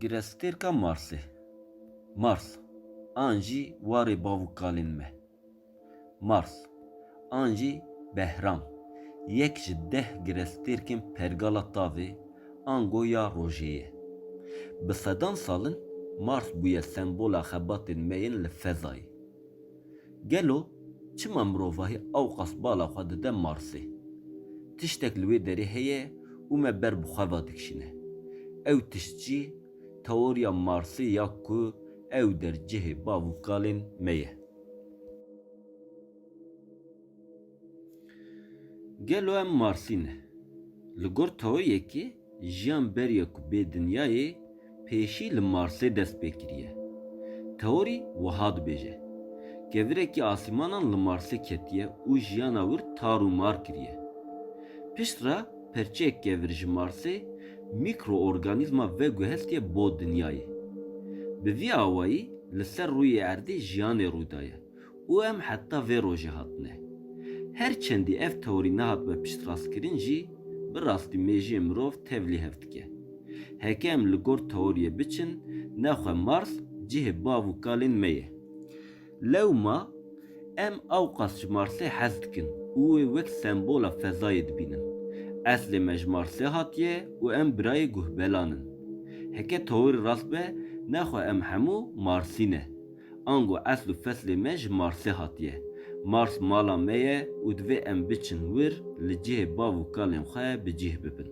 Girestêrka Marsê, Mars, an jî warê bav û kalên me, Mars, an jî Behram, yek ji deh girestêrkên pergala tavê ango ya rojê ye. Bi sedan sal in Mars bûye sembola xebatên me yên li fezayê. Gelo çima mirovahî awqas bala xwe dide Marsê? Tiştek li wê derê heye û me ber bi xwe ve dikişîne. Ew tişt jî teoriya Marsê ya ku ew der cihê bav û kalên me ye. Gelo em Marsî ne? Li gor Taoyekê jiyan beriya ku bê dinyayê pêşî li Marsê dest pê kiriye. Teorî wiha dibêje, Kevirekî asîmanan li Marsê ketiye û jiyana wir tar û mar kiriye. Pişt re perçeyek kevir ji Marsê mîkroorganîzma veguhestiye bo dinyayê. Bi vî awayî li ser rûyê erdê jiyanê rûdaye û em heta vê rojê hatine. Her çendî ev teorî nehatbe piştrastkirin jî, bi rastî mêjiyê mirov tev lê hev dike. Heke em li gor teoriyê biçin, nexwe Mars cihê bav û kalên me ye. Lewma em awqas ji Marsê hez dikin û wê wek sembola fezayê dibînin. Eslê me ji Marsê hatiye û em birayê guhbelan in. Heke teorî rast be, nexwe em hemû Marsî ne. Ango esl û feslê me ji Marsê hatiye. Mars mala me ye û divê em biçin wir li cihê bav û kalên xwe bi cîh bibin.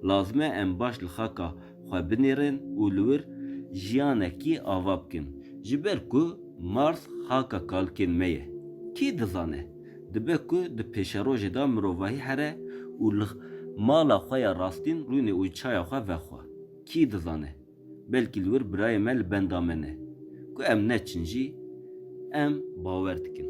Lazim e em baş li xaka xwe binêrin û li wir jiyanekî ava bikin. Ji ber ku Mars xaka kalkên me ye. Kî dizane? Dibe ku di pêşerojê de mirovahî here û li mala xwe ya rastîn rûnê û çaya xwe vexwe. Kî dizane? Belkî li wir birayê me li benda me ne. Ku em neçin jî em bawer dikin.